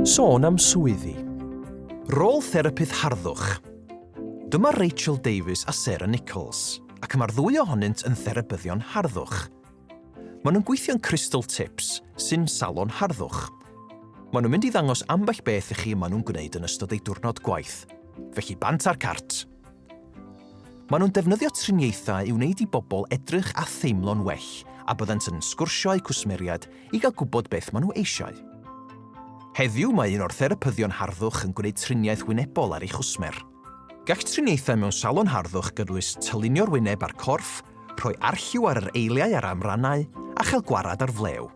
Sôn am swyddi. Rôl therapydd harddwch. Dyma Rachel Davies a Sarah Nicholls, ac mae'r ddwy ohonynt yn therapyddion harddwch. Maen nhw'n gweithio'n Crystal Tips, sy'n salon harddwch. Maen nhw'n mynd i ddangos ambell beth i chi y maen nhw'n gwneud yn ystod eu diwrnod gwaith. Felly bant a'r cart! Maen nhw'n defnyddio triniaethau i wneud i bobl edrych a theimlo'n well a byddant yn sgwrsio â'u cwsmeriaid i gael gwybod beth maen nhw eisiau. Heddiw mae un o'r therapyddion harddwch yn gwneud triniaeth wynebol ar ei chwsmer. Gall triniaethau mewn salon harddwch gynnwys tylunio'r wyneb a'r corff, rhoi arlliw ar yr eiliau a'r amrannau, a chael gwared ar flew.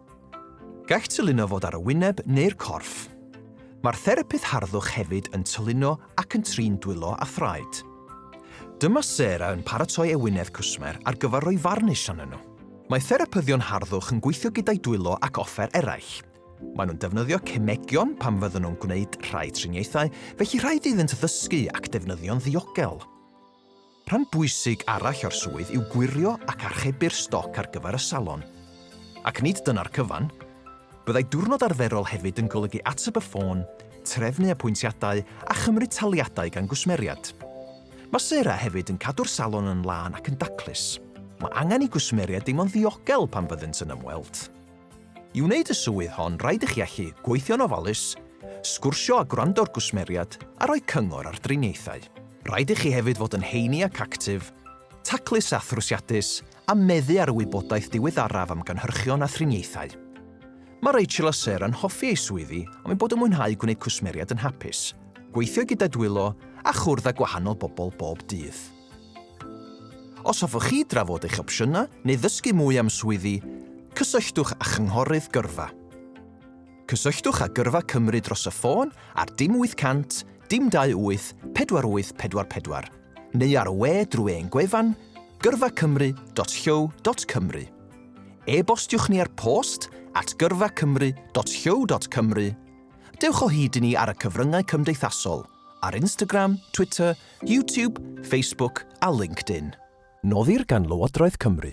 Gall tylino fod ar y wyneb neu'r corff. Mae'r therapydd harddwch hefyd yn tylino ac yn trin dwylo a thraed. Dyma Sarah yn paratoi ewinedd cwsmer ar gyfer rhoi farnish arnyn nhw. Mae therapyddion harddwch yn gweithio gyda'i dwylo ac offer eraill. Maen nhw'n defnyddio cemegion pan fyddan nhw'n gwneud rhai triniaethau, felly rhaid iddynt ddysgu ac defnyddio'n ddiogel. Rhan bwysig arall o'r swydd yw gwirio ac archebu'r stoc ar gyfer y salon. Ac nid dyna'r cyfan. Byddai diwrnod arferol hefyd yn golygu ateb y ffôn, trefnu apwyntiadau a chymryd taliadau gan gwsmeriad. Mae Sarah hefyd yn cadw'r salon yn lân ac yn daclus. Mae angen i gwsmeriaid deimlo'n ddiogel pan fyddent yn ymweld. I wneud y swydd hon rhaid i chi allu gweithio'n ofalus, sgwrsio a gwrando'r gwsmeriad a rhoi cyngor ar driniaethau. Rhaid i chi hefyd fod yn heini ac actif, taclus a thrwsiadus a meddu ar y wybodaeth diweddaraf am gynhyrchion a thriniaethau. Mae Rachel a Sarah yn hoffi eu swyddi am eu bod yn mwynhau gwneud cwsmeriad yn hapus, gweithio gyda dwylo a chwrdd â gwahanol bobl bob dydd. Os hoffwch chi drafod eich opsiynau neu ddysgu mwy am swyddi, cysylltwch â Chynghorydd Gyrfa. Cysylltwch â Gyrfa Cymru dros y ffôn ar dim 800 dim 28 4844 neu ar y we drwy ein gwefan gyrfacymru.llyw.cymru. E-bostiwch ni ar post at gyrfacymru.llyw.cymru. Dewch o hyd i ni ar y cyfryngau cymdeithasol, ar Instagram, Twitter YouTube, Facebook a LinkedIn. Noddir gan Lywodraeth Cymru.